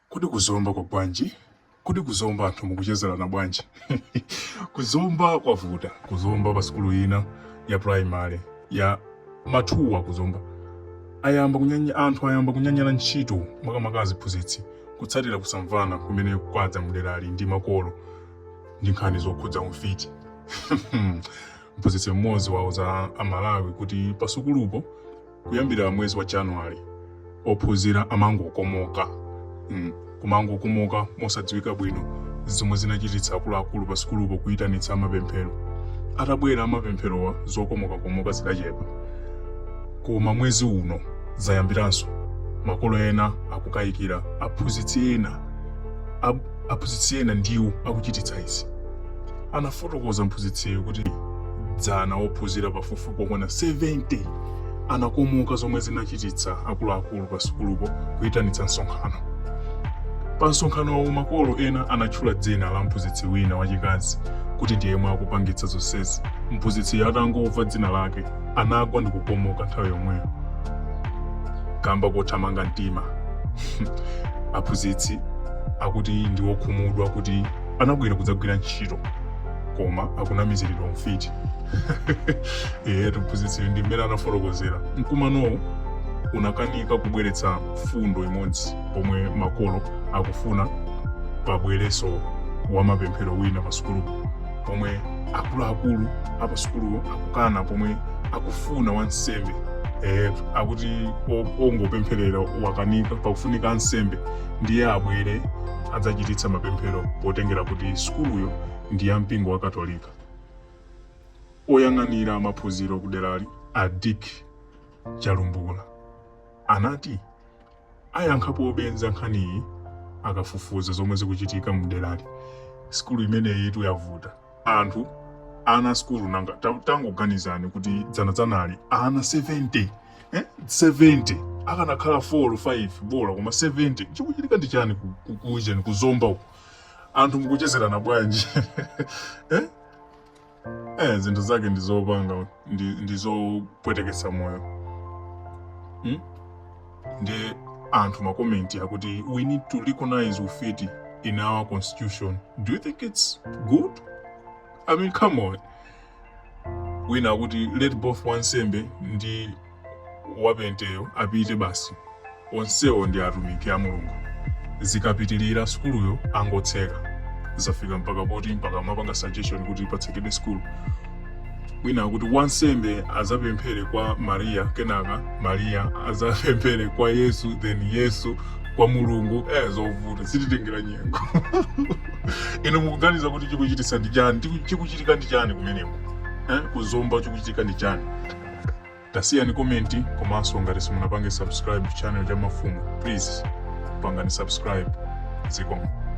Kodi kuzomba kwa bwanji? Kodi kuzomba anthu mukuchezerana bwanji? kuzomba kwavuta. Kuzomba pa sukulu ina ya primary ya Matuwa kuzomba anthu ayamba kunyanyala ntchito makamaka aziphunzitsi kutsatira kusamvana kumene kwadza mderali ndi makolo ndi nkhani zokhudza umfiti. Mphunzitsi mmodzi wauza Amalawi kuti pasukulupo kuyambira mwezi wa january ophunzira amangokomoka mm, kumangokomoka mosadziwika bwino zomwe zinachititsa akuluakulu pa sukulupo kuyitanitsa amapemphero atabwera amapempherowa zokomokakomoka zidachepa koma mwezi uno zayambiranso makolo ena akukayikira aphunzitsi ena ab- Aphunzitsi ena ndiwo akuchititsa izi. Anafotokoza mphunzitsiyo kuti, Dzana ophunzira pafupifupi okwana 70 anakomoka zomwe zinachititsa akuluakulu pasukulupo kuitanitsa msonkhano. Pa msonkhanowo makolo ena anatchula dzina la mphunzitsi wina wachikazi kuti ndi yemwe akupangitsa zonsezi. Mphunzitsiyo atangomva dzina lake anagwa ndi kukomoka nthawi yomweyo kamba kothamanga mtima aphunzitsi akuti ndi wokhumudwa kuti anabwera kudzagwira ntchito koma akunamiziridwa ufiti ehe mphunzitsi ndi mmene anafotokozera mkumanowu unakanika kubweretsa mfundo imodzi pomwe makolo akufuna pabwerenso wa mapemphero wina pa sukulupo pomwe akuluakulu apa sukulupo akukana pomwe akufuna wansembe eh, akuti o- ongopempherera wakanika pakufunika ansembe ndiye abwere adzachititsa mapemphero potengera kuti sukuluyo ndi ya mpingo wa katolika oyang'anira maphunziro kuderali a dick chalumbula anati ayankhapobe za nkhaniyi akafufuza zomwe zikuchitika mderali sikulu imeneyitu yavuta anthu ana sikulu nanga ta- tangoganizani kuti dzanadzanali ana 70 eh? 70 akanakhala 4 or 5 bola koma 70 chikuchitika ndi chani ku- ku- kuujeni kuzomba uku anthu mukuchezerana bwanji eh? eh, zinthu zake ndi zopanga ndi, ndi zopweteketsa moyo hmm? ndiye anthu makomenti akuti we need to recognize ufiti in our constitution do you think it's good i mean come on wina akuti let both wansembe ndi wapenteyo apite basi onsewo ndi atumiki a mulungu zikapitirira sukuluyo angotseka zafika mpaka poti mpaka amapanga suggestion kuti patsekedwe sukulu wina akuti wansembe azapemphere kwa mariya kenaka mariya azapemphere kwa yesu then yesu kwa mulungu eh, zovuta sizitengera nyengo inu mukuganiza kuti chikuchitisa ndi chani Chiku- chikuchitika ndi chani kumeneko eh? kuzomba chikuchitika ndi chani tasiyani komenti komanso ngati simunapange subscribe channel cha mafumu please pangani subscribe zikomo